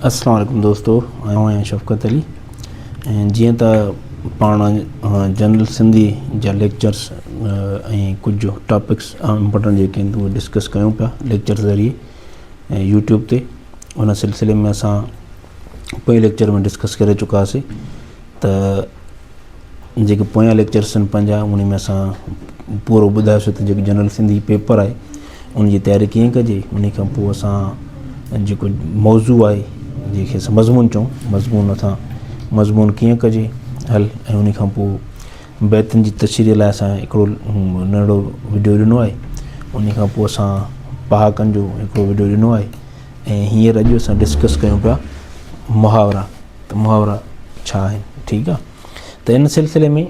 السلام عليڪم دوستو آئون آهيان شفقت علي ۽ جيئن ته پاڻ جنرل سنڌي جا ليڪچرس ۽ ڪجهه ٽاپڪس امپورٽنٽ جيڪي آهن اهي ڊسڪس ڪيون پيا ليڪچر ذريعي ۽ يوٽيوب تي ان سلسلي ۾ اسان پنهنجي ليڪچر ۾ ڊسڪس ڪري چڪاسي ته جيڪي پويان ليڪچرس آهن پنهنجا انهي ۾ اسان پورو ٻڌايوسي ته جيڪو جنرل سنڌي پيپر آهي ان جي تياري ڪيئن ڪجي انهي کان پوء اسان جيڪو موضوع آهي جنهن کي اسان مضمون چئون مضمون اسان مضمون ڪيئن ڪجي حل ۽ انهي کان پوء بيتن جي تشريح لاء اسان هڪڙو ننڍڙو وڊيو ڏنو آهي انهي کان پوء اسان پهاڪن جو هڪڙو وڊيو ڏنو آهي ۽ هينئر اڄ اسان ڊسڪس ڪيون پيا محاورا ته محاورا ڇا آهن ٺيڪ آ ته ان سلسلي ۾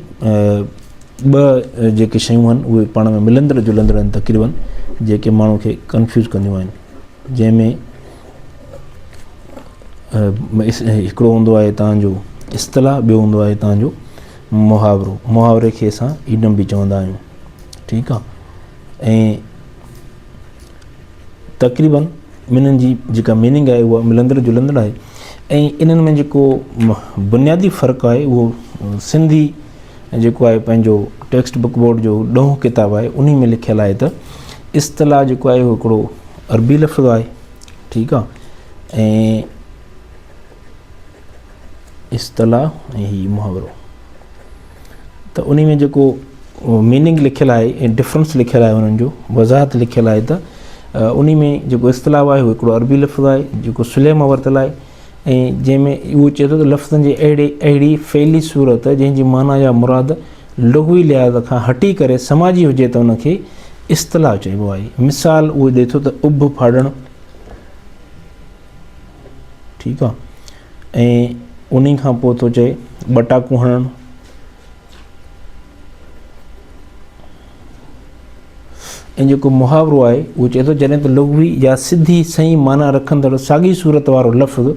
ٻه جيڪي شيون آهن اهي پاڻ ۾ ملندڙ جلندڙ آهن تقريبن جيڪي ماڻهو کي ڪنفيوز ڪنديون آهن جنهن ۾ هڪڙو هوندو آهي تهانجو اصطلاح ٻيو هوندو آهي تهانجو محاورو محاوري کي اسان ايڊم به چوندا آهيون ٺيڪ آ ۽ تقريباً ٻنهن جي جيڪا ميننگ آهي اها ملندڙ جلندڙ آهي ۽ انهن ۾ جيڪو بنيادي فرق آهي اهو سنڌي جيڪو آهي پنهنجو ٽيڪسٽ بڪ بورڊ جو ڏهون ڪتاب آهي ان ۾ لکيل آهي ته اصطلاح جيڪو آهي اهو هڪڙو عربي لفظ آهي ٺيڪ آهي ۽ اصطلاح ۽ هي محاورو ته انهي ۾ جيڪو ميننگ لکيل آهي ۽ ڊفرنس لکيل آهي انهن جو وضاحت لکيل آهي ته انهي ۾ جيڪو اصطلاح آهي اهو هڪڙو عربي لفظ آهي جيڪو سليم مان ورتل آهي ۽ جنهن ۾ اهو چئي ٿو ته لفظن جي اهڙي اهڙي فعلي صورت جنهن جي معنيٰ يا مراد لغوي لحاظ کان هٽي ڪري سماجي هجي ته ان کي اصطلاح چئبو آهي مثال اهو ڏئي ٿو ته اڀ ڦاڙڻ ٺيڪ آ ۽ انهي کان پوء ٿو چئي ٻٽاڪو هڻڻ ۽ جيڪو محاورو آهي اهو چئي ٿو جڏهن ته لغوي يا سڌي سائين معنيٰ رکندڙ ساڳي صورت وارو لفظ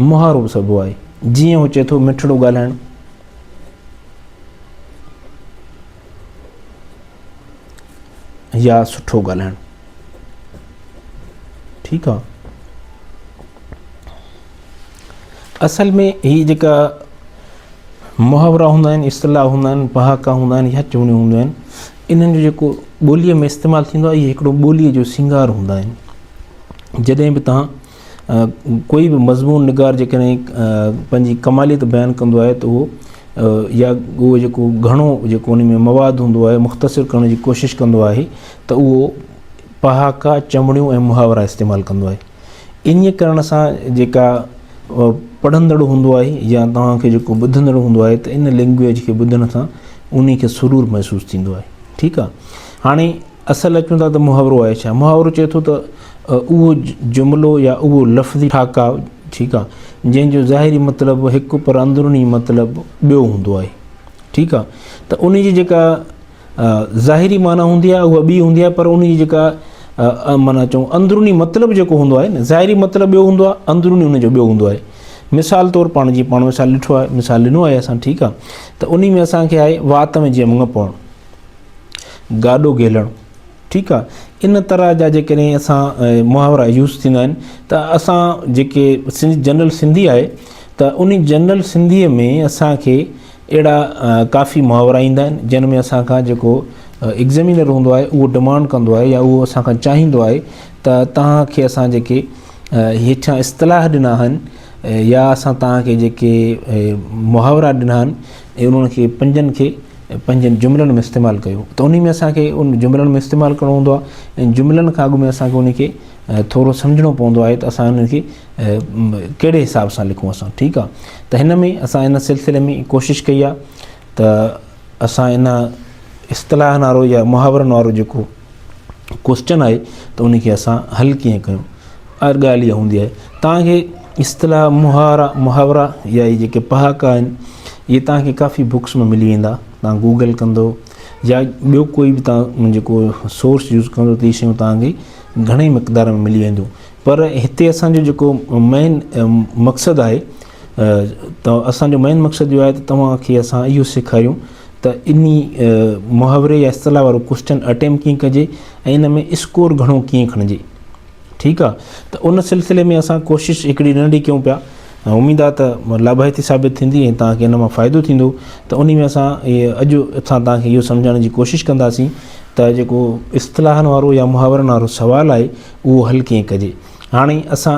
محاورو به سبو آهي جيئن هو چئي ٿو مٺڙو ڳالهائڻ يا سٺو ڳالهائڻ ٺيڪ آ اصل ۾ هي جيڪا محاورا هوندا آهن اصطلاح هوندا آهن پهاڪا هوندا آهن يا چوڻيون هوندا آهن انهن جو جيڪو ٻوليء ۾ استعمال ٿيندو آهي اهي هڪڙو ٻوليء جو سينگار هوندا آهن جڏهن به تهان ڪوئي به مضمون نگار جيڪڏهن پنهنجي ڪماليت بيان ڪندو آهي ته اهو يا اهو جيڪو گهڻو جيڪو ان ۾ مواد هوندو آهي مختصر ڪرڻ جي ڪوشش ڪندو آهي ته اهو پهاڪا چمڙيون ۽ محاورا استعمال ڪندو آهي انهيء ڪرڻ سان جيڪا پڙهندڙ هوندو آهي يا توهان کي جيڪو ٻڌندڙ هوندو آهي ته ان لينگويج کي ٻڌڻ سان انهي کي سرور محسوس ٿيندو آهي ٺيڪ آهي هاڻي اصل اچون ٿا ته محاورو آهي ڇا؟ محاورو چئي ٿو ته اهو جملو يا اهو لفظي ٺاڪاء، ٺيڪ آ، جنهن جو ظاهري مطلب هڪ پر اندروني مطلب ٻيو هوندو آهي، ٺيڪ آ، ته ان جي جيڪا ظاهري معنيٰ هوندي آهي اها ٻي هوندي آهي پر ان جي جيڪا معنيٰ چئون اندروني مطلب جيڪو هوندو آهي نه ظاهري مطلب ٻيو هوندو آهي اندروني ان جو ٻيو هوندو آهي. مثال طور پاڻ جي پاڻ مثال ڏٺو آهي مثال ڏنو آهي اسان ٺيڪ آ ته انهي ۾ اسان کي آهي وات ۾ جيئن مڱ پوڻ. گاڏو گهيلڻ ٺيڪ آ ان طرح جا جيڪڏهن اسان محاورا يوز ٿيندا آهن ته اسان جيڪي سنڌ جنرل سنڌي آهي ته ان جنرل سنڌي ۾ اسانکي اهڙا ڪافي محاورا ايندا آهن جن ۾ اسان کان جيڪو ايگزيمينر هوندو آهي اهو ڊمانڊ ڪندو آهي يا اهو اسان کان چاهيندو آهي ته توهانکي اسان جيڪي هيٺيان اصطلاح ڏنا آهن يا اسان توهانکي جيڪي محاورا ڏنا آهن انهن کي پنجن کي پنهنجن جملن ۾ استعمال ڪيو ته انهي ۾ اسان کي ان جملن ۾ استعمال ڪرڻو هوندو آهي ۽ جملن کان اڳ ۾ اسان کي انهي کي ٿورو سمجهڻو پوندو آهي ته اسان انهي کي ڪهڙي حساب سان لکون اسان ٺيڪ آهي ته هن ۾ اسان ان سلسلي ۾ ڪوشش ڪئي آهي ته اسان ان اصطلاح نارو يا محاورن وارو جيڪو ڪوسچن آهي ته ان کي اسان حل ڪيئن ڪيون هر ڳالهه اها هوندي آهي تان کي اصطلاح مهارا محاورا يا هي جيڪي پهاڪا آهن اهي تان کي ڪافي بڪس ۾ ملي ويندا تان گوگل ڪندو يا ٻيو ڪوئي به تان جيڪو سورس يوز ڪندو ته هي شيون تان کي گهڻي مقدار ۾ ملي وينديون پر هتي اسان جو جيڪو مين مقصد آهي ته اسان جو مين مقصد اهو آهي ته توهان کي اسان اهو سيکاريون ته انهي محاوري يا اصطلاح وارو ڪوشچن اٽيمپ ڪيئن ڪجي ۽ ان ۾ اسڪور گهڻو ڪيئن کڻجي ٺيڪ آ ته ان سلسلي ۾ اسان ڪوشش هڪڙي ننڍي ڪيون پيا اميد آ ته لاڀائتي ثابت ٿيندي ۽ توهان کي ان مان فائدو ٿيندو ته انهي ۾ اسان اڄ اسان توهان کي اهو سمجهائڻ جي ڪوشش ڪنداسين ته جيڪو اصطلاحن وارو يا محاورن وارو سوال آهي اهو حل ڪيئن ڪجي هاڻي اسان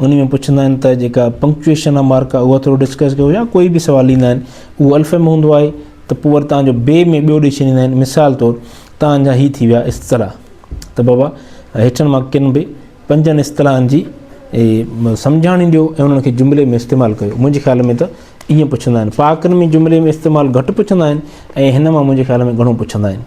انهي ۾ پڇندا آهن ته جيڪا پنڪچوئيشن آ مارڪ آ اها ٿورو ڊسڪس ڪيو يا ڪوئي به سوال ڏيندا آهن اهو الف ۾ هوندو آهي ته پوء وري توهان جو بي ۾ ٻيو ڏئي ڇڏيندا آهن مثال طور توهان جا هي ٿي ويا اصطلاح ته بابا هيٺن مان ڪن به پنجن اصطلاحن جي سمجهاڻي ڏيو ۽ انهن کي جملي ۾ استعمال ڪيو منهنجي خيال ۾ ته ائين پڇندا آهن پاڪن ۾ جملي ۾ استعمال گهٽ پڇندا آهن ۽ هن مان منهنجي خيال ۾ گهڻو پڇندا آهن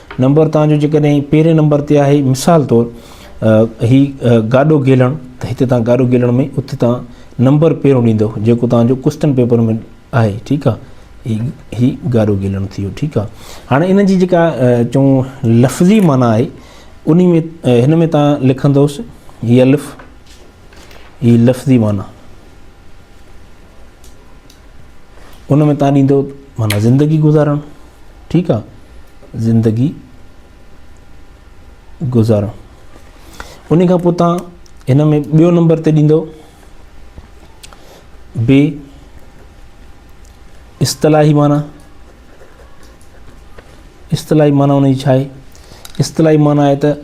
نمبر تان جو جيڪڏهن پهرين نمبر تي آهي مثال طور هي گاڏو گيلڻ ته هتي تان گاڏو گيلڻ ۾ اتي تان نمبر پهريون ڏيندو جيڪو تان جو ڪوشچن پيپر ۾ آهي ٺيڪ آهي هي گاڏو گيلڻ ٿيو ٺيڪ آهي هاڻي ان جي جيڪا چون لفظي معنی آهي ان ۾ هن ۾ تان لکندوس هي الف هي لفظي معنی ان ۾ تان ڏيندو معنيٰ زندگي گذارڻ ٺيڪ آ زندگي گذارڻ ان کان پوء تان ان ۾ ٻيو نمبر تي ڏيندو بي اصطلاحي معنيٰ اصطلاحي معنيٰ ان جي ڇا آهي؟ اصطلاحي معنيٰ آهي ته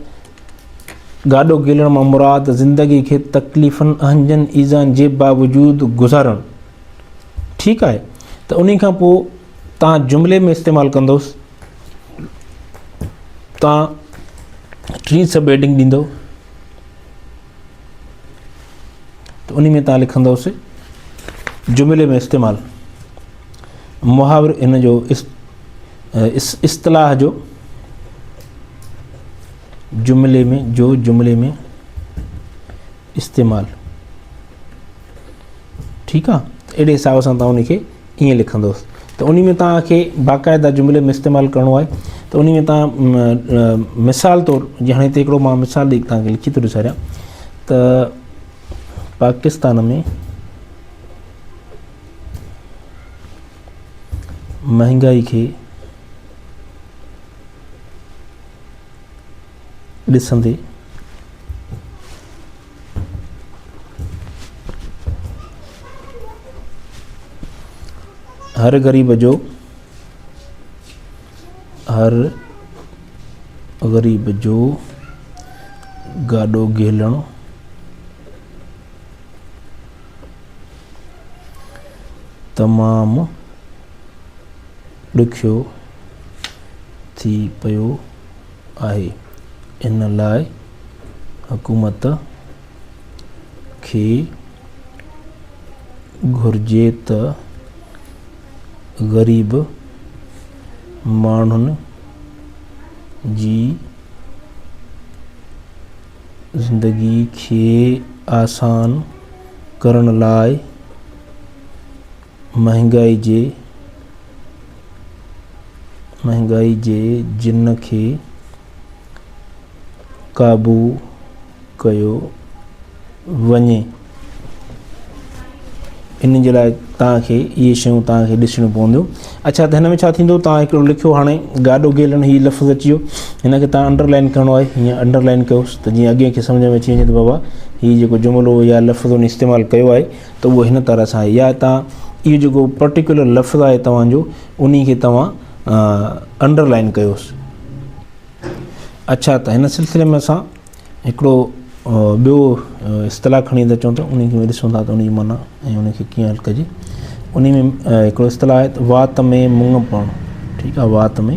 گاڏو گيلڻ مان مراد زندگي کي تڪليفن، اهنجن، ايذائن جي باوجود گذارڻ. ٺيڪ آهي ته انهي کان پوء تان جملي ۾ استعمال ڪندوس تان ٽري سبهيڊنگ ڏيندو. ته انهي ۾ تان لکندوس جملي ۾ استعمال محاور ان جو اصطلاح جو جملي ۾ جو جملي ۾ استعمال ٺيڪ آهي اهڙي حساب سان تان ان کي ائين لکندوس ته انهي ۾ توهان کي باقاعده جملي ۾ استعمال ڪرڻو آهي ته انهي ۾ توهان مثال طور جي هاڻي هتي هڪڙو مان مثال ڏئي توهان کي لکي ٿو ڏساريان ته پاڪستان ۾ مهانگائي کي ڏسندي هر غريب جو هر غريب جو گاڏو گهلڻ تمام ڏکيو ٿي پيو آهي ان لاء حڪومت کي گهرجي ته غريب ماڻهن جي زندگي کي آسان ڪرڻ لاء مهانگائي جي مهانگائي جي جن کي قابو ڪيو وڃي ان جي لاء توهان کي اهي شيون توهان کي ڏسڻيون پونديون اچھا ته هن ۾ ڇا ٿيندو توهان هڪڙو لکيو هاڻي گاڏو گيلڻ هي لفظ اچي ويو هن کي توهان انڊرلائن ڪرڻو آهي هيئن انڊرلائن ڪيوس ته جيئن اڳين کي سمجھ ۾ اچي وڃي ته بابا هي جيڪو جملو يا لفظ ان استعمال ڪيو آهي ته اهو هن طرح سان آهي يا هتان اهو جيڪو پرٽيڪولر لفظ آهي توهان جو انهي کي توهان انڊر لائن ڪيوس اڇا ته هن سلسلي ۾ اسان هڪڙو ٻيو اصطلاح کڻي ٿا چون ته انهي کي ڏسون ٿا ته انهي جي معنيٰ ۽ انهي کي ڪيئن حل ڪجي انهي ۾ هڪڙو اصطلاح آهي ته وات ۾ مڱ پوڻ ٺيڪ آهي وات ۾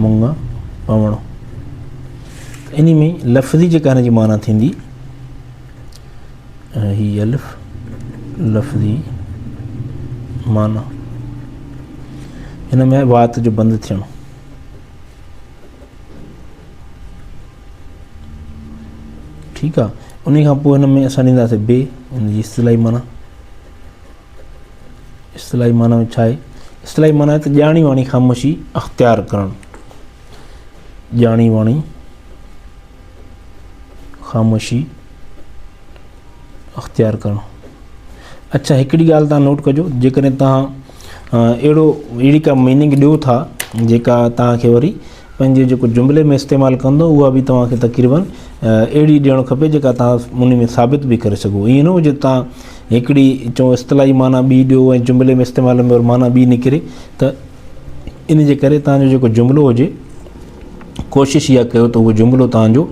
مڱ پوڻ انهي ۾ لفظي جيڪا هن جي معنيٰ ٿيندي ۽ هي الف لفظي معنيٰ هن ۾ وات جو بند ٿيڻ ٺيڪ آ ان کان پوء هن ۾ اسان ڏينداسي بي ان جي اصطلاحي معنی اصطلاحي معنی ۾ ڇا آهي اصطلاحي معنی ته ڄاڻي واڻي خاموشي اختيار ڪرڻ ڄاڻي واڻي خاموشي اختيار ڪرڻ اڇا هڪڙي ڳالهه تان نوٽ ڪجو جيڪڏهن تان اهڙو اهڙي ڪا ميننگ ڏيو ٿا جيڪا تان کي وري پنهنجي جيڪو جملي ۾ استعمال ڪندو اها به تان کي تقريبن اهڙي ڏيڻ کپي جيڪا تان ان ۾ ثابت به ڪري سگهو ائين نه هجي تان هڪڙي چون اصطلاحي معنيٰ ٻي ڏيو ۽ جملي ۾ استعمال ۾ معنيٰ ٻي نڪري ته ان جي ڪري توهان جو جيڪو جملو هجي ڪوشش اها ڪيو ته اهو جملو توهان جو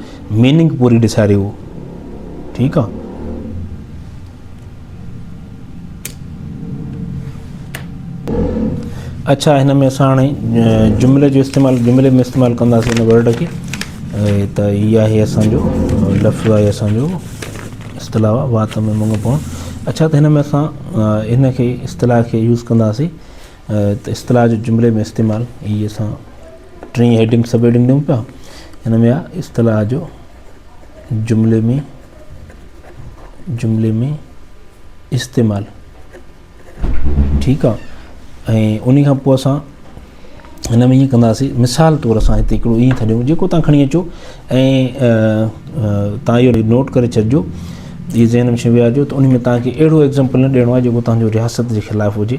ميننگ پوري ڏساري اهو ٺيڪ آ. اڇا هن ۾ اسان هاڻي جملي جو استعمال جملي ۾ استعمال ڪنداسين هن ورڊ کي ته هي آهي اسان جو لفظ آهي اسان جو اصطلاح وات ۾ مڱ پوڻ اڇا ته هن ۾ اسان هن کي اصطلاح کي يوز ڪنداسين ته اصطلاح جو جملي ۾ استعمال هي اسان ٽين هيڊنگ سب هيڊنگ ڏيون پيا ان ۾ اصطلاح جو جملي ۾ جملي ۾ استعمال ٺيڪ آ ۽ انهي کان پوء اسان هن ۾ ائين ڪنداسي مثال طور اسان هتي هڪڙو ائين ٿا ڏيون جيڪو تان کڻي اچو ۽ تان اهو نوٽ ڪري ڇڏجو جي ذهن ۾ شي ويهارجو ته انهي ۾ تان کي اهڙو ايگزامپل نه ڏيڻو آ جيڪو تان جو رياست جي خلاف هجي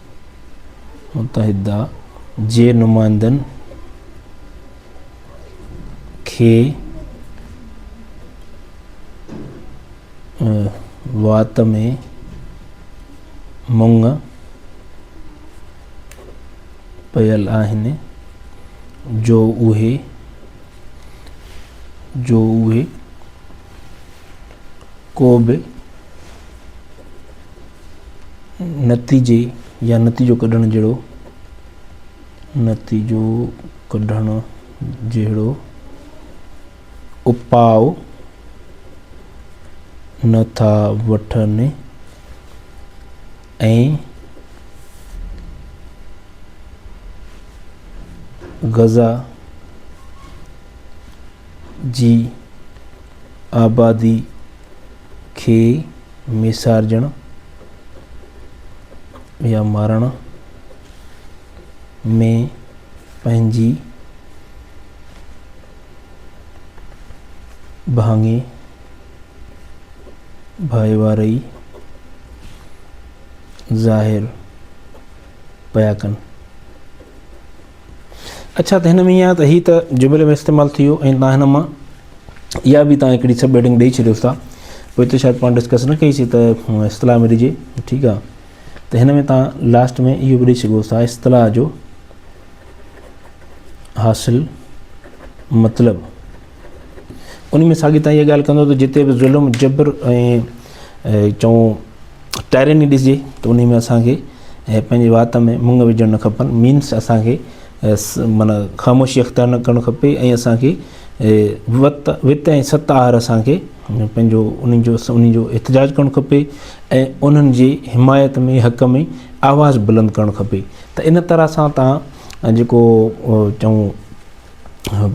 متحده جي نمائندن کي وات ۾ مڱ پيل آهن جو اهي ڪو به نتيجي يا نتيجو ڪڍڻ جهڙو نتيجو ڪڍڻ جهڙو اپاء نه ٿا وٺن ۽ غزا جي آبادي کي ميسارجڻ يا مارڻ ۾ پنهنجي ڀاڱي ڀائيواري ظاهر پيا ڪن. اڇا ته هن ۾ ايئن آهي ته هي ته جملي ۾ استعمال ٿي ويو ۽ تان هن مان اها به تان هڪڙي سب هيڊنگ ڏئي ڇڏيوس ٿا پوء اتي شايد پاڻ ڊسڪس نه ڪئي سي ته اصطلاح ۾ ڏجي ٺيڪ آهي ته هن ۾ تان لاسٽ ۾ اهو به ڏئي سگهو ٿا اصطلاح جو حاصل مطلب ان ۾ ساڳي تان اها ڳالهه ڪندو ته جتي به ظلم جبر ۽ چون ٽائرني ڏسجي ته انهي ۾ اسان کي پنهنجي وات ۾ مڱ وجهڻ نه کپن مينس اسان کي معنيٰ خاموشي اختيار نه ڪرڻ کپي ۽ اسان کي وت وت ۽ ست آهر اسان کي پنهنجو انهن جو انهن جو احتجاج ڪرڻ کپي ۽ انهن جي حمايت ۾ حق ۾ آواز بلند ڪرڻ کپي ته ان طرح سان تان جيڪو چون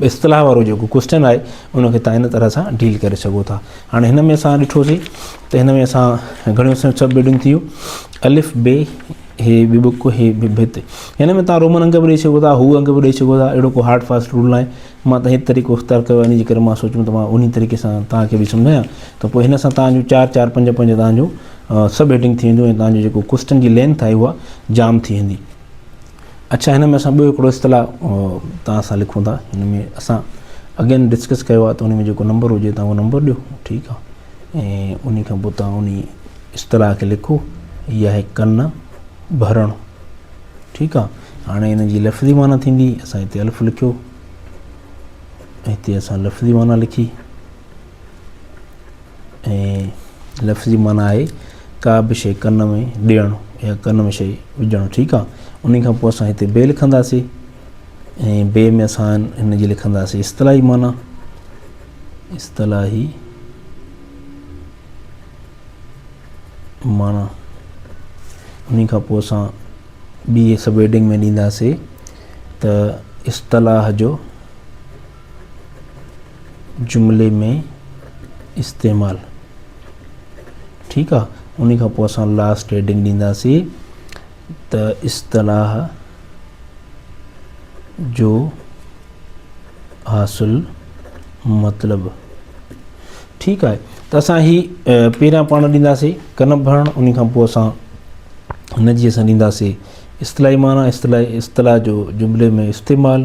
اصطلاح وارو جيڪو ڪوشچن آهي ان کي تان ان طرح سان ڊيل ڪري سگهو ٿا هاڻي هن ۾ اسان ڏٺوسي ته هن ۾ اسان گهڻيون سب هيڊنگ ٿيون الف بي هي بي بڪ هي بي بت هن ۾ تان رومن انگ به ڏيئي سگهو ٿا هو انگ به ڏيئي سگهو ٿا اهڙو ڪو هارڊ فاسٽ رول ناهي مان ته هي طريقو اختيار ڪيو آهي ان جي ڪري مان سوچيم ته مان انهي طريقي سان تان کي به سمجهايان ته پوء هن سان تان جون چار چار پنج پنج تان جون سب هيڊنگ ٿي وينديون ۽ تان جو جيڪو ڪوشچن جي لينٿ آهي اها جام ٿي ويندي اڇا هن ۾ اسان ٻيو هڪڙو اصطلاح توهان سان لکون ٿا هن ۾ اسان اگين ڊسڪس ڪيو آهي ته ان ۾ جيڪو نمبر هجي توهان اهو نمبر ڏيو ٺيڪ آهي ۽ ان کان پوء توهان ان اصطلاح کي لکو هي آهي ڪن ڀرڻ ٺيڪ آهي هاڻي ان جي لفظي معنی ٿيندي اسان هتي الف لکيو هتي اسان لفظي معنی لکي ۽ لفظي معنيٰ آهي ڪا به شيء ڪن ۾ ڏيڻ يا ڪن ۾ شيء وجهڻ ٺيڪ آهي ان کان پوء اسان هتي بي لکنداسين ۽ بي ۾ اسان هن جي لکنداسين اصطلاحي معنيٰ اصطلاحي معنيٰ ان کان پوء اسان ٻي سب هيڊنگ ۾ ڏينداسين ته اصطلاح جو جملي ۾ استعمال ٺيڪ آ ان کان پوء اسان لاسٽ هيڊنگ ڏينداسين ته اصطلاح جو حاصل مطلب ٺيڪ آهي ته اسان هي پهريان پاڻ ڏينداسين ڪن ڀرڻ ان کان پوء اسان هن جي اسان ڏينداسين اصطلاحي معنی اصطلاح اصطلاح جو جملي ۾ استعمال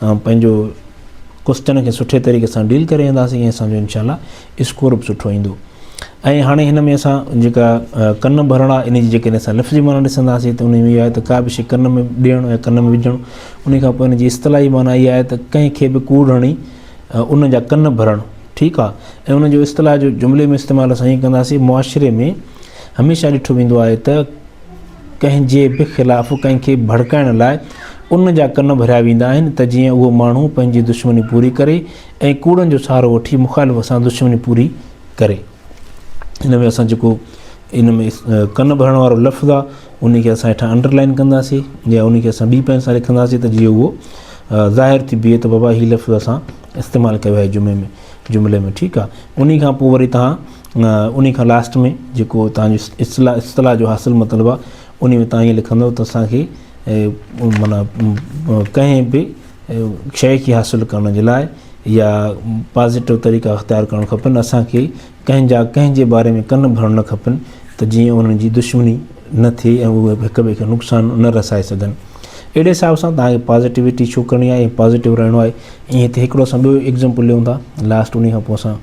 پنهنجو ڪشتين کي سٺي طريقي سان ڊيل ڪري اينداسين ۽ اسان جو انشاء الله اسڪور به سٺو ايندو ۽ هاڻي هن ۾ اسان جيڪا ڪن ڀرڻ آ ان جي جيڪڏهن اسان لفظي معنيٰ ڏسنداسين ته ان ۾ اها آهي ته ڪا به شيء ڪن ۾ ڏيڻ يا ڪن ۾ وجهڻ ان کان پوء ان جي اصطلاحي معنيٰ اها آهي ته ڪنهن کي به ڪوڙ هڻي ان جا ڪن ڀرڻ ٺيڪ آ ۽ ان جو اصطلاح جو جملي ۾ استعمال اسان ائين ڪنداسين معاشري ۾ هميشه ڏٺو ويندو آهي ته ڪنهن جي به خلاف ڪنهن کي ڀڙڪائڻ لاء ان جا ڪن ڀريا ويندا آهن ته جيئن اهو ماڻهو پنهنجي دشمني پوري ڪري ۽ ڪوڙن جو سهارو وٺي مخالف سان دشمني پوري ڪري. هن ۾ اسان جيڪو ان ۾ ڪن ڀرڻ وارو لفظ آ ان کي اسان هيٺان انڊر لائن ڪنداسين يا ان کي اسان ٻي پين سان لکنداسين ته جيئن اهو ظاهر ٿي بيهي ته بابا هي لفظ اسان استعمال ڪيو آهي جملي ۾ جملي ۾ ٺيڪ آ انهي کان پوء وري توهان انهي کان لاسٽ ۾ جيڪو توهان جو اصطلاح اصطلاح جو حاصل مطلب آهي انهي ۾ توهان ايئن لکندؤ ته اسان کي معنيٰ ڪنهن به شيء کي حاصل ڪرڻ جي لاء يا پازيٽو طريقا اختيار ڪرڻ کپن اسان کي ڪنهن جا ڪنهن جي باري ۾ ڪن ڀرڻ نه کپن ته جيئن انهن جي دشمني نه ٿئي ۽ اهي هڪ ٻئي کي نقصان نه رسائي سگهن اهڙي حساب سان توهان کي پازيٽوٽي شو ڪرڻي آهي ۽ پازيٽو رهڻو آهي ائين هتي هڪڙو اسان ٻيو ايگزامپل ڏيون ٿا لاسٽ انهي کان پوء اسان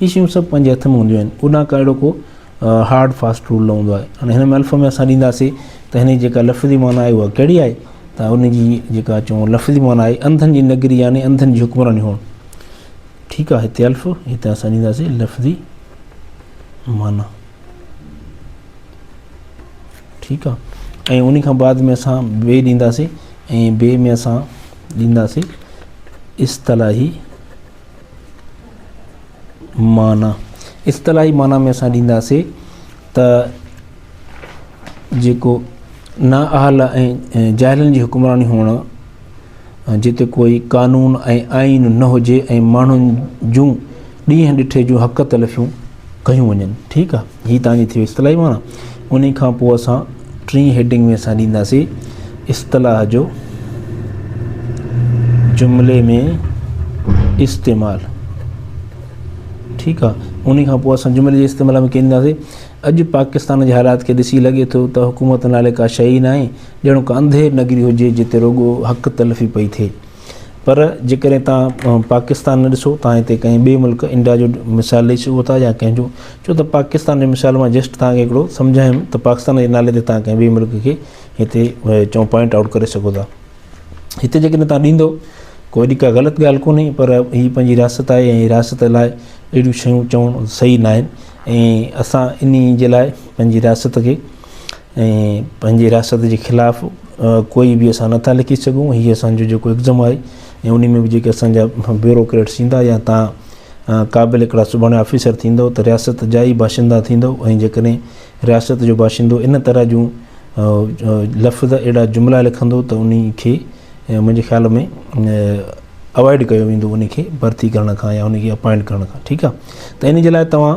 هي شيون سڀ پنهنجي هٿ ۾ هونديون آهن اوڏانهن ڪا اهڙو ڪو هارڊ فاسٽ رول نه هوندو آهي هاڻي هن محلف ۾ اسان ڏينداسي ته هن جي جيڪا لفظي معنيٰ آهي اها ڪهڙي آهي ته ان جي جيڪا چون لفظي معنيٰ آهي انڌن جي نگري يعني انڌن جي حڪمراني هئڻ ٺيڪ آهي هتي الف هتي اسان ڏينداسي لفظي معنيٰ ٺيڪ آهي ۽ ان کان بعد ۾ اسان بي ڏينداسي ۽ بي ۾ اسان ڏينداسي اصطلاحي معنيٰ، اصطلاحي معنيٰ ۾ اسان ڏينداسين ته جيڪو نااهل ۽ جاهلن جي حڪمراني هئڻ، جتي ڪوئي قانون ۽ آئين نه هجي ۽ ماڻهن جون ڏينهن ڏٺي جون حق تلفيون ڪيون وڃن. ٺيڪ آ. هي توهان جي ٿيو اصطلاحي معنيٰ انهي کان پوء اسان ٽين هيڊنگ ۾ اسان ڏينداسين اصطلاح جو جملي ۾ استعمال ٺيڪ آ انهي کان پوء اسان جملي جي استعمال ۾ ڪينداسين اڄ پاڪستان جي حالات کي ڏسي لڳي ٿو ته حڪومت نالي ڪا شيء ئي ناهي ڄڻو ڪا انڌير نگري هجي جتي رڳو حق تلفي پئي ٿئي پر جيڪڏهن تهان پاڪستان نه ڏسو تهان هتي ڪنهن ٻئي ملڪ انڊيا جو مثال ڏئي سگهو ٿا يا ڪنهن جو ڇو ته پاڪستان جي مثال مان جسٽ تهان کي هڪڙو سمجهايم ته پاڪستان جي نالي تي تهان ڪنهن ٻئي ملڪ کي هتي چئون پوائنٽ آئوٽ ڪري سگهو ٿا هتي جيڪڏهن تهان ڏيندو ڪو اهڙي ڪا غلط ڳالهه ڪونهي پر هي پنهنجي رياست آهي ۽ رياست لاء اهڙيون شيون چوڻ صحيح ناهن ۽ اسان انهي جي لاء پنهنجي رياست کي ۽ پنهنجي رياست جي خلاف ڪوئي به اسان نٿا لکي سگهون هي اسان جو جيڪو اگزم آهي ۽ انهي ۾ به جيڪي اسان جا بيوروڪريٽس ايندا يا تان قابل هڪڙا سڀاڻي آفيسر ٿيندو ته رياست جا ئي باشندا ٿيندو ۽ جيڪڏهن رياست جو باشندو ان طرح جون لفظ اهڙا جملا لکندو ته انهي کي منهنجي خيال ۾ اوائڊ ڪيو ويندو انهي کي ڀرتي ڪرڻ کان يا انهي کي اپائنٽ ڪرڻ کان ٺيڪ آهي ته انهي جي لاء توهان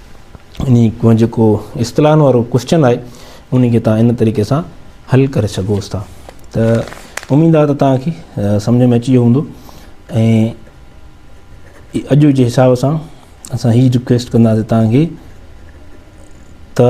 انهي ڪو جيڪو اصطلاحن وارو ڪوسچن آهي انهي کي تان ان طريقي سان حل ڪري سگهوس ٿا ته اميد آهي ته تان کي سمجهه ۾ اچي ويو هوندو ۽ اڄ جي حساب سان اسان هي ريڪويسٽ ڪنداسي تان کي ته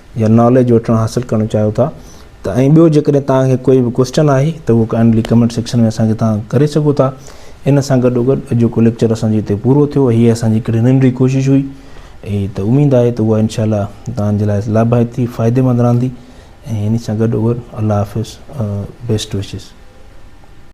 يا ناليج وٺڻ حاصل ڪرڻ چاهيو ٿا ته ۽ ٻيو جيڪڏهن توهان کي ڪوئي به ڪوسچن آهي ته اهو ڪائنڊلي ڪمينٽ سيڪشن ۾ اسان کي توهان ڪري سگهو ٿا ان سان گڏو گڏ اڄوڪو ليڪچر اسان جو هتي پورو ٿيو هي اسان جي هڪڙي ننڍي ڪوشش هئي اي ته اميد آهي ته اها انشاء الله توهان جي لاء لاڀائتي فائدي مند رهندي ۽ ان سان گڏو گڏ الله حافظ بيسٽ وشز